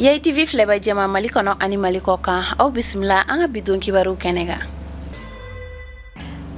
yayitivi filɛba jɛma mali kɔnɔ ani mali kɔkan aw bisimila an ka bidon kibaruw kɛnɛ kan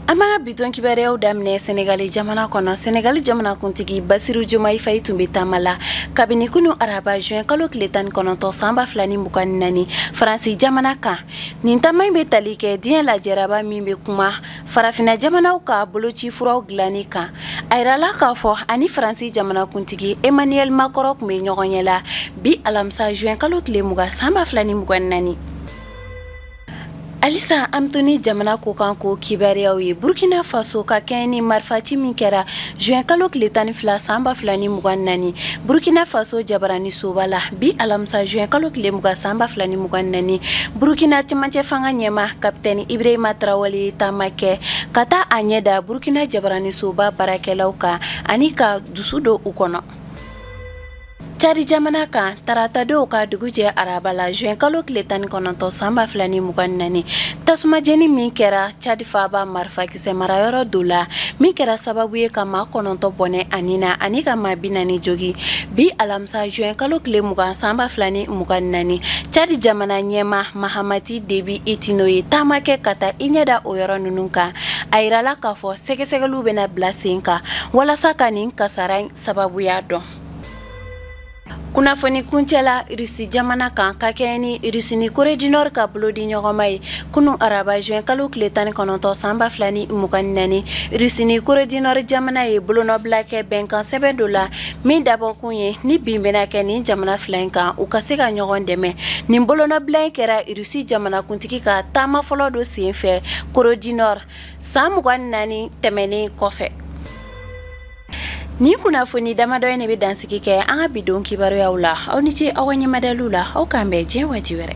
an b'an ka bidon kibaruyaw daminɛ senegali jamana kɔnɔ senegali jamanakuntigi basiru jomayi fayi tun bɛ taama la kabini kunu araba juin kalo tile tan ni kɔnɔntɔn san ba fila ni mugan ni naani faransi jamana kan nin taama in bɛ tali kɛ diɲɛ lajɛraba min bɛ kuma farafinna jamanaw ka boloci furaw dilanni kan a yirala k'a fɔ a ni faransi jamanakuntigi emmanuel makɔrɔn tun bɛ ɲɔgɔnye la bi alamisa juin kalo tile mugan san ba fila ni mugan naani halisa an bɛ to ni jamana kɔkan ko kibaruyaw ye burkina faso ka kɛɲɛ ni marifaci min kɛra juin kalo tile tan ni fila san ba fila ni mugan naani burkina faso jabaranisoba la bi alamisa juin kalo tile mugan san ba fila ni mugan naani burukina cɛmancɛ fanga ɲɛmaa kapitɛni ibrahima tarawale ye taama kɛ ka taa a ɲɛ da burukina jabaranisoba baarakɛlaw kan ani ka dusu don u kɔnɔ cadi jamana kan tarata don ka dugu jɛ araba la juin kalo tile tan ni kɔnɔntɔn san ba fila ni mugan ni naani tasuma jeni min kɛra cadi faaba marifa sɛ marayɔrɔ dɔ la min kɛra sababu ye ka maa kɔnɔntɔn bɔnɛ a ni na ani ka maa bi naani jogin bi alamisa juin kalo tile mugan san ba fila ni mugan ni naani cadi jamana ɲɛmaa mahamati debi itino ye taama kɛ ka taa i ɲɛ da o yɔrɔ ninnu kan a yirala k'a fɔ sɛgɛsɛgɛliw bɛna bila sen kan walasa ka nin kasara sababuya dɔn kunnafoni kuncɛ la rusi jamana kan ka kɛɲɛ ni rusi ni kore du nord ka bolo di ɲɔgɔnma ye kunu araba juin kalo tile tan ni kɔnɔntɔn san ba fila ni mugan ni naani rusi ni kore du nord jamana ye bolonɔbila kɛ bɛnkan sɛbɛn dɔ la min dabɔkun ye ni bin bɛna kɛ nin jamana fila in kan u ka se ka ɲɔgɔn dɛmɛ nin bolonɔbila in kɛra rusi jamanakuntigi ka taama fɔlɔ dɔ sen fɛ kore du nord san mugan ni naani tɛmɛnen kɔfɛ Nin kunnafoni damadɔ in de bɛ dansigi kɛ an ka bidon kibaruyaw la aw ni ce aw ka ɲɛmadaliw la aw k'an bɛn diɲɛ waati wɛrɛ